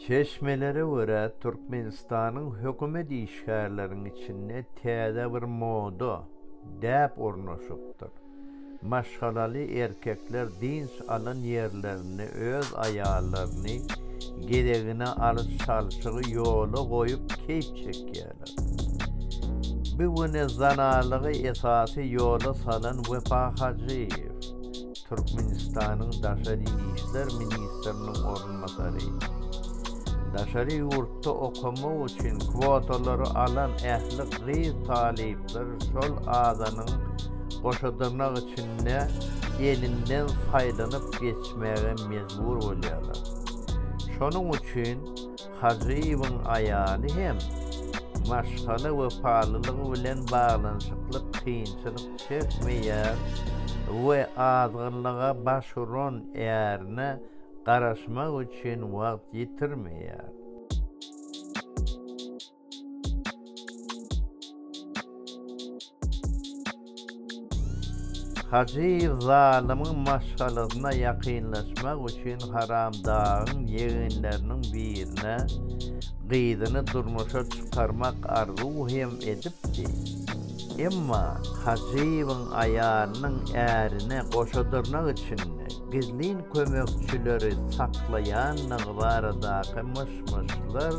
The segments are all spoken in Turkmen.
Çeşmelere görä, Türkmenistanyň hökümet işgärleriniň içinde täze bir moda, däp ornaşypdyr. Maşgalaly erkekler dynç alan ýerlerinde öz aýallaryny gezegine alyş-çalşygy ýola goýup keýp çekýärler. Bu güne zanalygy esasy ýola salan Wepa Hajyýew, Türkmenistanyň daşary işler ministriniň orunbasary, daşary ýurtda okamak üçin kwotalary alan ähli gyz talyplar şol adanyň goşadyrnak içinde elinden saýlanyp geçmäge mejbur bolýarlar. Şonuň üçin, Hajyýewiň aýaly hem maşgala wepalylygy bilen baglanyşykly kynçylyk çekmeýär we azgynlyga baş uran ärine garaşmak üçin wagt ýitirmeýär. Hajy zalymyň maşgalasyna ýakynlaşmak üçin Haramdagyň ýegenleriniň birine gyzyny durmuşa çykarmak arzuw hem edipdi. Emma Hajybyň aýalynyň ärine goşa dyrnak içinde. Gizlin kömekçileri saklaýandygy baradaky myş-myşlar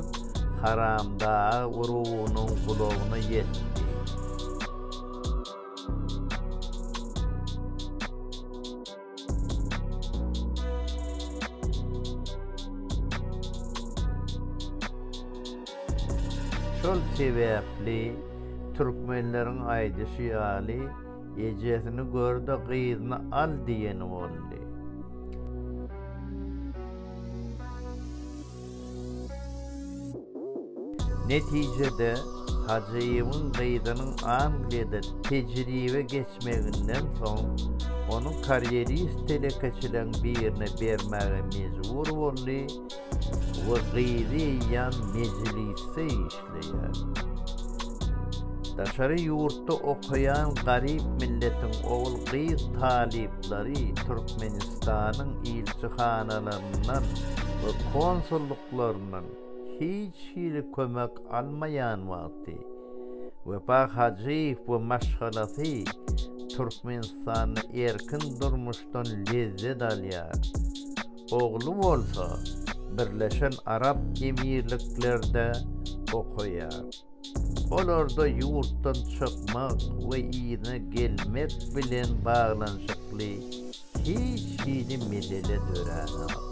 Haramdag urugynyň gulagyna ýetdi. Şol sebäpli türkmenleriň aýdyşy ýaly, Ejesini gör-de, gyzyny al diýeni boldy. Netijede, Hajyýewiň gyzynyň Angliýada tejribe geçmeginden soň, ony karýerist telekeçileriň birine bermäge mejbur boldy, we gyzy eýýäm Mejlisde işleýär. Daşary ýurtda okaýan garyp milletiň ogul-gyz talyplary Türkmenistanyň ilçihanalaryndan we konsullyklaryndan hiç hili kömek almaýan wagty, Wepa Hajyýew we maşgalasy Türkmenistanda erkin durmuşdan lezzet alýar. ogly bolsa Birleşen Arap Emirliklerde okaýar. Olarda ýurtdan çykmak we yzyna gelmek bilen baglanyşykly hiç hili mesele döränok.